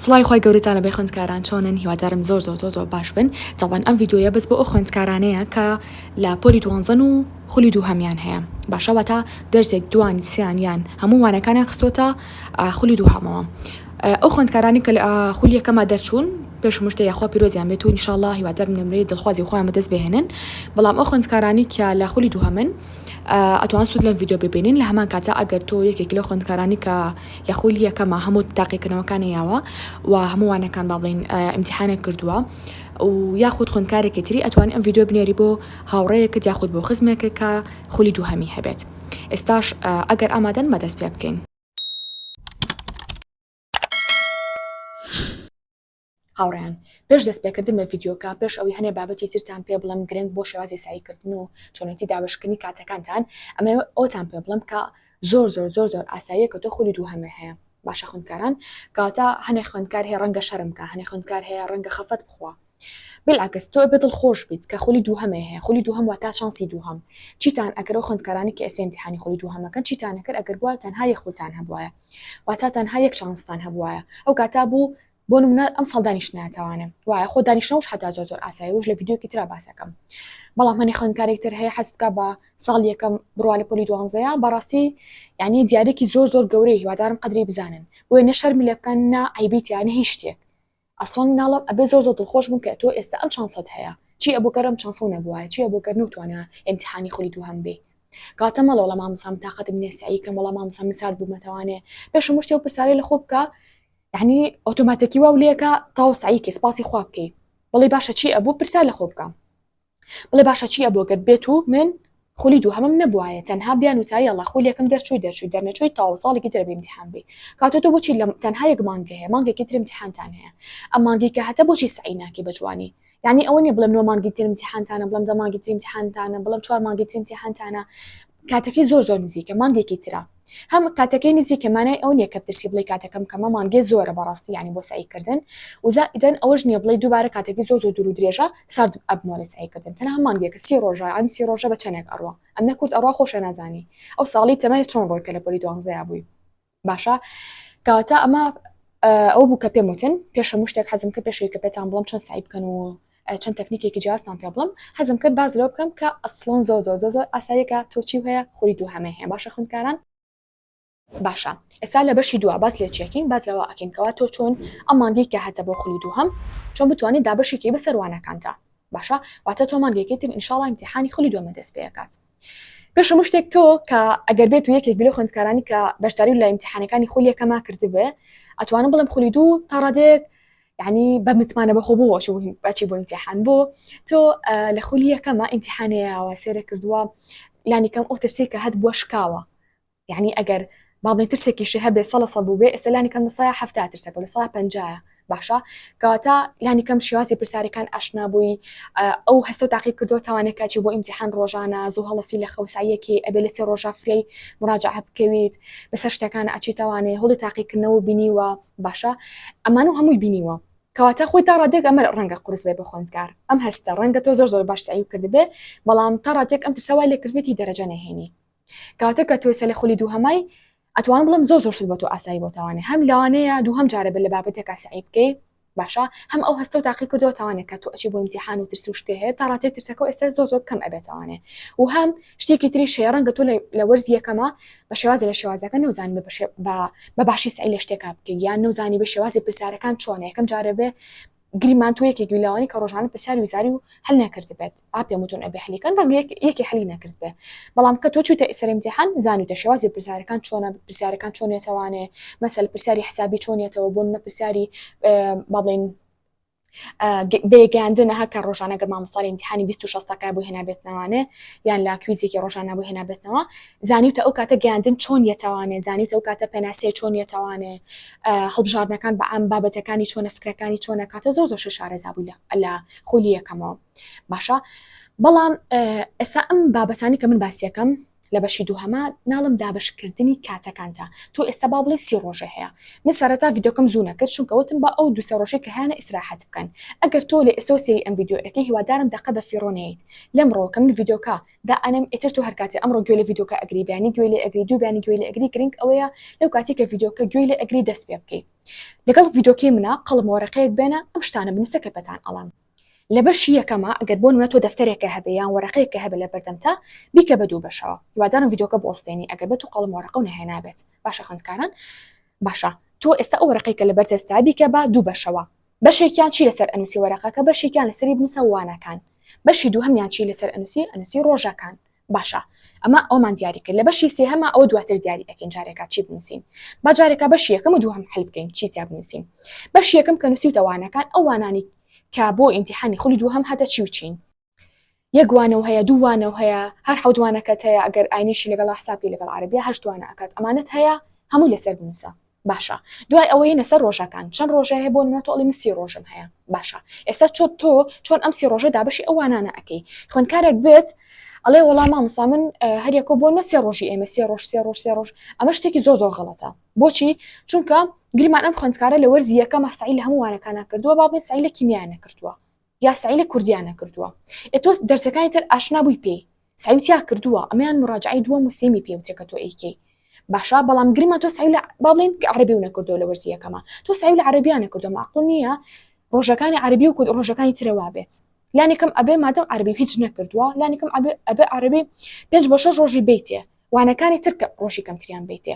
سڵاوی خوای گەورەتان لەبێ خوێندکاران چۆنن هیوادارم زۆر زۆر زۆر زۆر باش بن تەوبان ئەم ڤیدیۆیە بەس بۆ ئەو خوێندکارانەیە کە لە پۆلی دوانزەن و خولی دووهەمیان هەیە باشە واتا دەرسێک دوان سیان یان هەموو وانەکانیان خستۆتە خولی دووهەمەوە ئەو خوێندکارانی کە لە خولی یەکەما دەرچوون پێش مشتە یاخوا پیرۆزیان بێت و انشاءالله هیوادارم نمرەی دڵخوازی خۆیان بەدەست بهێنن بەڵام ئەو خوێندکارانی کە لە خولی دووهەمن ئەتوان سوود لەم ڤیدیۆ ببینین لە هەمان کاتە ئەگەر تۆ یەکێک لە خوێندکارانی کە لە خولی یەکەمە هەموو تاقیکردنەوەکانی یاوە و هەموو وانەکان با بڵێن ئیمتیحانێک کردووە و یاخود خوندکارێکی تری ئەتوانی ئەم ڤیدیۆ بنێری بۆ هاوڕەیەکت یاخود بۆ خزمێکە کە خولی دووهەمی هەبێت ئێستاش ئەگەر ئامادەن بەدەست پێ بکەین هاوڕێیان پێش دەست پێکردن بە ڤیدیۆکە پێش ئەوی هەنێ بابەتی ترتان پێ بڵم گرنگ بۆ شێوازی سعیکردن و چۆنێتی دابەشکردنی کاتەکانتان ئەمەوێ ئەوەتان پێ بڵم کە زۆر زۆر زۆر زۆر ئاساییە کە تۆ خولی دووهەمێ هەیە باشە خوندکاران کەواتە هەنێ خوێندکار هەیە ڕەنگە شەرم بکە هەنێ خوێندکار هەیە ڕەنگە خەفەت بخوا بلعکس تۆ بە دڵ خۆش بیت کە خولی دووهەمێ هەیە خولی دووهەم وە تا چانسی دووهەم چیتان ئەکەرەوە خوندکارانی کە ئێسێ امتحانی خولی دووهەمەکەن چیتان نەکرد ئەگەر بووە تەنها یەک خولتان هەبوایە واتاتان ها یەک چانستان هەبوایە ئەو کاتا بوو بۆ نمونە ئەمساڵ دانیشتنایە تاوانە وایە خۆ دانیشتنەوەش حتا زۆر زۆر ئاسایە وش لە ڤیدیۆکی ترا باسەکەم بەڵام هەنێ خوێندکارێک تر هەیە حەز بکە بە ساڵ یەکەم بڕوا لە پۆلی دوانزەیە بەڕاستی یعنی دیارێکی زۆر زۆر گەورەی هیوادارم قدری بزانن بۆیە نە شەرم لێ بکەن نا عیبیتیانە هیچ شتێک ئەسڵان ناڵم ئەبێ زۆر زۆر دڵخۆش بم کە تۆ ئێستا ئەم چانسەت هەیە چی ئەبوو گەرم چانسەو نەبووە چی ئەبوو گەر نوتوانە ئەمتحانی خولی دوو هەم بێ کاتە مەڵەوەڵە مامسام تااقەتم نێسایی کە مەڵە مامسا مسارد بوومەتەوانێ پێشە مشتێ و پرسارەی لە خۆ بکە یەعنی ئۆتۆماتەکی واو لێکە تاو سەعیکەی سپاسی خوا بکەی بڵێ باشە چی ئەبوو پرسیار لە خۆ بکە بڵێ باشە چی ئەبوو گەر بێت و من خولی دوو هەمم نەبوایە تەنها بیان و تای ئەڵا خول یەکەم دەرچووی دەرچووی دەرنەچووی تاو ساڵێکی ترە بێ امتحان بی کاتۆ تۆ بۆچی لەم تەنها یەک مانگە هەیە مانگێکی تر امتحانتان هەیە ئەم مانگی کە هەتە بۆچی سەعی ناکەی بە جوانی یانی ئەوە نیە بڵێم نۆ مانگی تر امتحانتانە بڵێم دە مانگی تر امتحانتانە بڵێم چوار مانگی تر امتحانتانە کاتەکەی زۆر زۆر نزیکە مانگێکی ترە هەم کاتەکەی نزیکە مانای ئەو نیە کە بترسی بڵی کاتەکەم کەمە مانگێ زۆرە بەڕاستی ینی بۆ سعیکردن وزا ئیدەن ئەوەش نیە بڵی دووبارە کاتەکەی زۆر زۆر دوور و درێژە سارد ئەبمۆرە سعیکردن تەنها مانگێکە سی ڕۆژە ئەم سی ڕۆژە بە چەنێک ئەڕوا ئەم نەکورد ئەڕوا خۆشە نازانی ئەو ساڵی تەمەنە چۆن ڕۆیکە لە پۆلی دوانزەیا بووی باشە کەواتە ئەمە ئەو بوو کە پێم وتن پێش هەموو شتێک حەزم کە پێشەوی کە پێتان بڵم چەند سعی بکەن و چەند تەکنیکێکی جیاستان پێ بڵم حەزم کرد باز لەو بکەم کە ئەسڵۆن زۆ زۆ زۆ زۆر ئاسایەکە تۆچی هەیە خوری دوو هەمێ هەیە باشە خوندکاران باشە ئێستا لە بەشی دو باز لێ چێکین باز لەوە ئەکەینکەوە تۆ چۆن ئەمانگەی کە هەتە بۆ خولی دوو هەم چۆن بتوانێت دابەشێکی بەسەروانەکانتە باشە واتە تۆمانگەکەی تر ئینشاڵ امتحانی خولی دومە دەست پێکات پێش هەموو شتێک تۆ کە ئەگەر بێت و یەکێک بلو خوندکارانی کە بەشداری لە امتحانەکانی خولی یەکەما کردبێ ئەتوانم بڵم خولی دوو تا ڕادێک یعنی بە متمانە بەخۆ بۆ بەچی بۆ امتحان بۆ تۆ لە خولی یەکەمە امتحانەیەوە سێرە کردووە لانی کەم ئەو ترسی کە هەت بووە شکاوە یەعنی ئەگەر با بڵێین ترسێکیشی هەبێ سە لە سە بووبێ ئێستا لانی کەم لە سایە حەفتا ترسێک و لە سایە پەنجایە باشە کەواتە لانی کەم شێوازی پرسیارەکان ئاشنا بووی ئەو هەستە و تاقی کردو تاوانەکە چی بۆ ئیمتیحان ڕۆژانە زوو هەڵەسی لە خەوساییەکی ئەبێ لە سێ ڕۆژە فرەی مراجعە بکەویت بەسەر شتەکان ئەچی تاوانێ هەڵی تاقیکردنەوە و بینیوە باشە ئەمان و هەمووی بینیوە کەواتە خۆی تا ڕادێک ئەمە ڕەنگە قرس بێ بە خوێندکار ئەم هەستە ڕەنگە تۆ زۆر زۆر باش سعی کردبێ بەڵام تا ڕادێک ئەم ترسەوای لێکردبێتی دەرەجە نەهێنی کاتە کە تۆیسە لە خولی دووهەمای ئەتوان بڵم زۆ زۆر شت بۆ تۆ ئاسایی بۆ تاوانێ هەم لەوانەیە دووهەم جارە بە لە بابەتێکا سعی بکەی باشە هەم ئەو هەستە و تاقی کردەوە تاوانێک کە تۆ ئەچی بۆ امتحان و ترس و شتێ هەیە تا ڕاتێ ترسەکە و ئێستا زۆ زۆر کەم ئەبێت تاوانێ و هەم شتێکی تری شێ ڕەنگە تۆ لە وەرز یەکەمە بە شێوازە لە شێوازەکە نەوزان بە باشی سعی لە شتێکا بکە یان نەوزانی بە شێوازی پرسیارەکان چۆنە یەکەم جارە بێ گریمان تۆ یەکێک بی لەوانی کە ڕۆژانە پرسیاری وزاری و هەل نەکردبێت ئا پێم وتون ئەبێ حلیکەن ڕەنگە یەک یەکی حلی نەکردبێ بەڵام کە تۆ چوویتە سەر ئیمتیحان زانیوتە شێوازی پرسیارەکان چۆنە پرسیارەکان چۆن یەتەوانێ مەسەل پرسیاری حسابی چۆن یەتەوە بۆ نمونە پرسیاری با بڵێین بێگەیاندنە هەکە ڕۆژانە گەر مامۆستای ئیمتیحانی 26 تاکای بۆ هێنابێتنەوانێ یان لا کویزێکی ڕۆژانە بۆ هێنابێتنەوە زانیوتە ئەو کاتە گەیاندن چۆن یەتەوانێ، زانیوتە ئەو کاتە پێناسیای چۆن یەتەوانێ، هەڵبژاردنەکان بە عام بابەتەکانی چۆنە، فکرەکانی چۆنە، کاتە زۆر زۆرشە شارەزا بووی لە خولی یەکەمەوە باشە، بەڵام ئێستا ئەم بابەتانی کە من باسیەکەم لە بەشی دووهەما ناڵم دابشکردنی کاتەکانتە تۆ ئێستا با بڵێ سی ڕۆژە هەیە من سەرەتا ڤیدۆکەم زوو نەکرد چونکە وتم بە ئەو دوسێ ڕۆژەی کە هیانە ئیسراحەت بکەن ئەگەر تۆ لە ئێستۆ سێری ئەم ڤیددیو ئەەکەی هیوادارم دەقە بە فیڕۆنیت لەم ڕۆکە من ڤیدۆکە دا ئەنێم ئیتر تۆ هەرکاتی ئەمڕۆ گوێ لە ڤیدۆکە ئەگری بەیانی گوێ لێ ئەگری دوو بەیانی گوێ لێ ئەگری گرنگ ئەوەیە لەو کاتی کە ڤیدۆکە گوێ لێ ئەگری دەست پێ بکەی لەگەڵ ڤیدۆکەی منە قەڵم وەرەقەیەک بێنە ئەم شتانە بنووسە کە پێتان ئەڵێم لە بەشی یەکەمە ئەگەر بۆ نمونە تۆ دەفتەرێکە هەبێ یان وەرەقەیەکە هەبێ لە بەردەمتا بیکە بە دوو بەشەوە هیوادارم ڤیدۆکە بوەستێنی ئەگەر بە تو قەڵم وەرەقە و نەهێنابێت باشە خوێندکاران باشە تۆ ئێستا ئەو وەرەقەیەکە لەبەر دەستدا بیکە بە دوو بەشەوە بەشێکیان چی لەسەر ئەنوسی وەرەقەکە بەشێکیان لەسەری بنوسە وانەکان بەشی دووهەمیان چی لەسەر ئەنوسی ئەنوسی ڕۆژەکان باشە ئەمە ئەومان دیاری کرد لە بەشی سێهەمە ئەوە دواتر دیاری ئەکەین جارێکا چی بنوسین با جارێکا بەشی یەکەم و دووهەم حل بکەین چی تیا بنوسین بەشی یەکەم کە نوسیوتە وانەکان ئەو وانانی کە بۆ ئیمتیحانی خولی دووهەم هاتە چی و چین یەک وانەو هەیە دوو وانەو هەیە هەر حەوت وانەکەت هەیە ئەگەر ئاینیشی لەگەڵا حساب کەی لەگەڵ عەرەبیا هەشت وانە ئەکات ئەمانەت هەیە هەمووی لەسەر بنووسە باشە دوای ئەوە یینە سەر ڕۆژەکان چەند ڕۆژێ هەیە بۆ نمونە تۆ ئەڵی من سی ڕۆژم هەیە باشە ئێستا چۆت تۆ چۆن ئەم سی ڕۆژە دابەشی ئەو وانانە ئەکەی خوێندکارێک بێت ئەڵێ وەڵام مامۆستا من هەریەکۆ بۆ نە سێ ڕۆژی ئێمە سێ ڕۆژ سێ ڕۆژ سێ ڕۆژ ئەمە شتێکی زۆ زۆ غڵەتە بۆچی چونکە گریمان ئەم خوندکارە لە وەرزی یەکە مەسعی لە هەمووانەکانە کردووە بابێت سعی لە کیمیانە کردووە یا سەعی لە کوردییان نەکردووە ئێ تۆ دەرسەکانی تر ئاشنا بووی پێی سەعیت یا کردووە ئەمەیان مڕاجعەی دووەم و سێمی پێ وترێ کە تۆ ئەیکەی باشە بەڵام گرمە تۆ سەعی لە با بڵێین کە عەرەبی و نەکردووە لە وەرزی یەکەما تۆ سەعی لە عەرەبییان نەکردووە مەعقول نییە ڕۆژەکانی عەرەبی و کورد ڕۆژەکانی ترە وا بێت لانی کەم ئەبێ مادەم عەرەبی هیچ نەکردووە لانی کەم ئەبێ ئەبێ عەرەبی پێنج بۆ شەش ڕۆژی بیتێ وانەکانی تر کە ڕۆژی کەمتریان بیتێ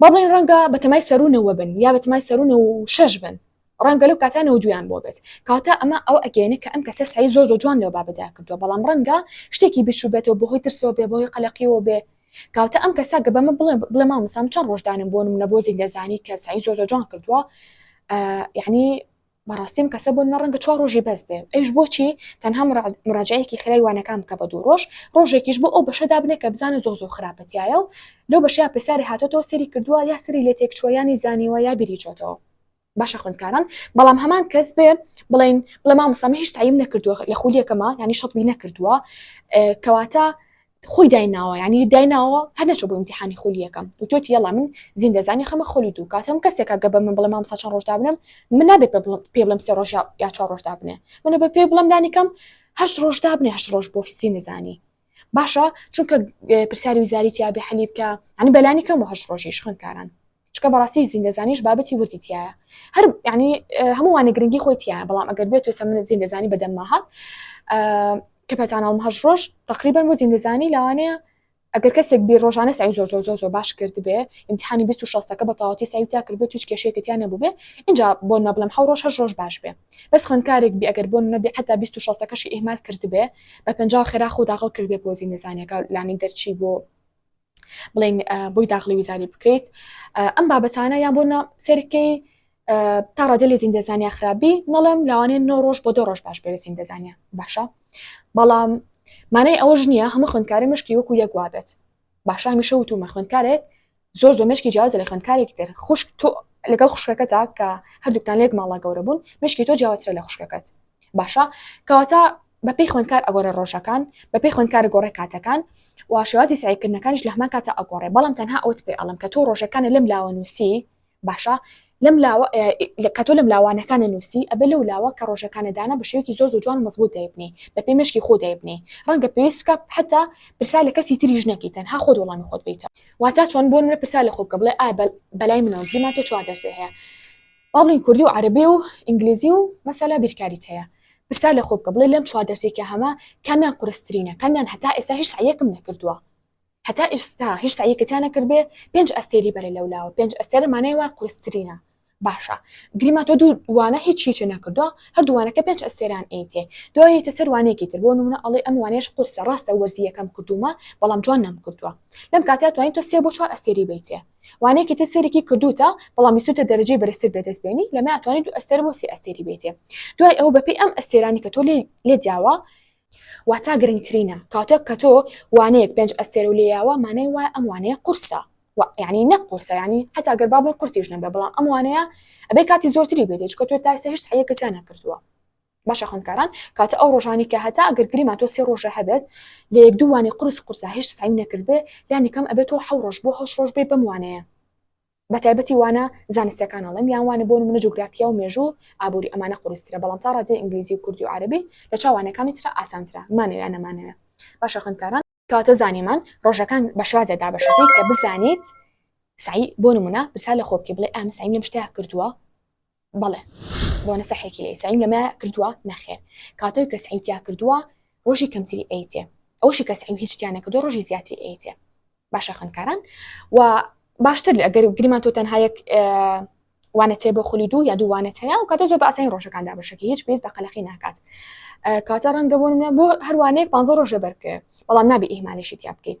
با بڵێین ڕەنگە بە تەمای سەروو نەوە بن یا بە تەمای سەروو نەوە و شەش بن، ڕەنگە لەو کاتە نەوە دوویان بۆ بێت، کەواتە ئەمە ئەوە ئەگەیەنێ کە ئەم کەسە سەعی زۆر زۆر جوان لەو بابەتدا کردووە، بەڵام ڕەنگە شتێکی بیرچووبێتەوە بەهۆی ترسەوە بێ، بەهۆی قەلەقیەوە بێ، کەواتە ئەم کەسە گەر بەمە بڵێ بڵێ مامۆستا من چەند ڕۆژ دانم بۆ نمونە بۆ زیندەزانی کە سەعی زۆر زۆر جوان کردووە یەعنی بەڕاستی ئەم کەسە بۆ نمە ڕەنگە چوار ڕۆژی بەس بێ ئەیش بۆچی تەنها مراجعەیەکی خێرای وانەکان بکە بە دوو ڕۆژ ڕۆژێکیش بۆ ئەو بەشە دابنێ کە بزانە زۆ زۆ خراپەتایە و لەو بەشەیە پرسیاری هاتۆتەوە سەیری کردووە یا سەری لێ تێک چووەیانی زانیوە یا بیری چۆتەوە باشە خوندکاران بەڵام هەمان کەس بێ بڵین بڵێ مامۆستا من هیچ تعیم نەکردووە لە خولیەکەمە ینی شەتبی نەکردووە کەواتە خۆی دایناوە یعنی دایناوە هەر نەچۆ بۆ امتحانی خولی یەکەم وتۆتی یەڵا من زیندە زانی خەمە خولی دوو کات هەم کەسێکە گە بە من بڵێ مامسا چەند ڕۆژ دابنم من نابێ پێ بڵم سێ ڕۆژ یا چوار ڕۆژ دابنێ منە بە پێ بڵم دانیکەم هەشت ڕۆژ دابنێ هەشت ڕۆژ بۆ فسی نزانی باشە چونکە پرسیاری وزاری تیاابێ حەلی بکە ئەنی بەلانی کەم و هەشت ڕۆژیش خوێندکاران چکە بەڕاستی زیندەزانیش بابەتی وردی تایە هەر ینی هەمووانە گرنگی خۆی تایە بەڵام ئەگەر بێت توێسە من زیندەزانی بەدەمما هات کە پەتانەڵم هەش ڕۆژ تقریبان بۆ زیندەزانی لەوانەیە ئەگەر کەسێک بێ ڕۆژانە سای زۆر زۆر زۆر زۆر باش کرد بێ امتحانی 26ەکە بە تاواتی سای تا کرد بێت توش کێشێکتیان نەبوو بێ اینجا بۆ نەبلم حە ڕۆژ هەش ڕۆژ باش بێ بەس خوێنکارێک بێ ئەگەر بۆ نەبێ حتا 26ەکەشی ئیهمال کرد بێ بە پنج خێرا خۆ داغڵ کرد بێ بۆ زیندەزانەکە لانی دەرچی بۆ بڵین بۆی داخلی وزاری بکەیت ئەم بابەتانە یان بۆ سەرکەی تا ڕەجە لێ زیندەزانیا خراپبی نەڵم لاوانێن نۆ ڕۆژ بۆ دۆ ڕۆژ باش بێ زیندەزانیا باشە بەڵام مانای ئەوەش نییە هەمە خوندکاری مشکی وەکو یەکوا بێت باشە هەمیشە وتومە خوندکارێک زۆر زۆر مشکی جیازە لە خوندکارێک تر خوشک تۆ لەگەڵ خوشکەکە تا کە هەردووکتان لێک ماڵا گەورە بوون مشکی تۆ جیاواترە لە خوشکەکەت باشە کەواتە بەپێی خوێندکار ئەگۆڕێ ڕۆژەکان، بەپێی خوێندکار ئەگۆڕێ کاتەکان و شێوازی سەعیکردنەکانیش لەهەمان کاتا ئەگۆڕێ، بەڵام تەنها ئەوەت پێ ئەڵێم کە تۆ ڕۆژەکانە لەم لاوە نووسی باشە لەم لاوە کە تۆ لەم لاوانەکانە نووسی ئەبێ لەو لاوە کە ڕۆژەکانە دانا بە شێوەیەکی زۆر زۆر جوان مەزبوط دەیبنی بەپێی مێشکی خۆ دەیبنی ڕەنگە پێویست بکە حتا پرسا لە کەسی تریش نەکەی تەنها خۆت وەڵامی خۆت بیتە واتا چۆن بۆ منە پرسا لە خۆ بکە بڵێ ئا بەلای منەوە گریمان تۆ چوار دەرسێ هەیە بەڵی کوردی و عەرەبی و ئینگلیزی و مەسەلە بیرکاریت هەیە پرسیار لە خۆ بکە بڵێ لەم چوار دەرسەی کە هەمە کامیان قورسترینە کامیان هەتا ئێستا هیچ سەعیەکم نەکردووە هەتا ئیستا هیچ سەعیەکەتیان نەکردبێ پێنج ئەستێری بەرە لەولاوە پێنج ئەستێرە مانای وایە قورسترینە باشە گریما تۆ دوو وانە هیچ هیچی نەکردووە هەردووانەکە پێنج ئەستێران ئەیتێ دوای یەتە سەر وانەیەکی تر بۆ نمونە ئەڵێ ئەم وانەیەش قورسە ڕاستە وەرزی یەکەم کردوومە بەڵام جوان نەمکردووە لەم کاتەیا توانین تۆ سێ بۆ چوار ئەستێری بەیتێ وانەیە کە تۆ سەیرێکی کردووتە بەڵام ویستووتە دەرەجەی بەرزتر بەدەست بێنی لەمەی ئەتوانی دوو ئەستێرە بۆ سێ ئەستێری بێتێ دوای ئەوە بەپێی ئەم ئەستێرانی کە تۆ لێ دیاوە واتا گرنگترینە کاتێک کە تۆ وانەیەک پێنج ئەستێرە و لێیاوە مانای وایە ئەم وانەیە قورسە یعنی نە قورسە ینی حتا گەر بابڵی قورسیش نەبێ بەڵام ئەم وانەیە ئەبێ کاتی زۆرتری بێتێ چکە تۆ تاسە هشت حەیەکەتیان نەکردووە باشە خوێندکاران کاتە ئەو ڕۆژانی کە هەتا ئەگەر گریما تۆ سێ ڕۆژە هەبێت لە یەک دوو وانی قرس قورسە هیچ سعیم نەکردبێ لانی کەم ئەبێت تۆ حەو ڕۆژ بۆ هەشت ڕۆژ بێ بەم وانەیە بە تایبەتی وانە زانستەکان ئەڵێم یان وانە بۆ نمونە جوگرافیا و مێژوو ئابووری ئەمانە قورسترە بەڵام تا ڕادەی ئینگلیزی و کوردی و عەرەبی لە چاوانەکانی ترا ئاسانترە مانەوێ نەمانەوێ باشە خوێندکاران کەواتە زانیمان ڕۆژەکان بە شێوازێک دابەش دەکەیت کە بزانیت سعی بۆ نمونە پرسیار لە خۆ بکەی بڵێ ئا من سعیم لەم شتەیە کردووە بەڵێ بۆنە سەحێکی لێ سعیم لەمە کردووە نەخێر کاتەوەی کە سعیم تیا کردووە ڕۆژی کەمتری ئەیتێ ئەوشی کە سعیم هیچ تیانە کردو ڕۆژی زیاتری ئەیتێ باشە خوێندکاران و باشتر ئەگەر گریمان تۆ تەنها یەک وانەت هەیە بۆ خولی دوو یا دوو وانەت هەیە و کاتە زۆر بە ئاسانی ڕۆژەکان دابەشەکە هیچ پێویست بە قەلەقی ناکات کاتە ڕەنگە بۆ منە بۆ هەروانەیەک پ ڕۆژە بەرکێ بەڵام نابی ئیمانێکی تیا بکەیت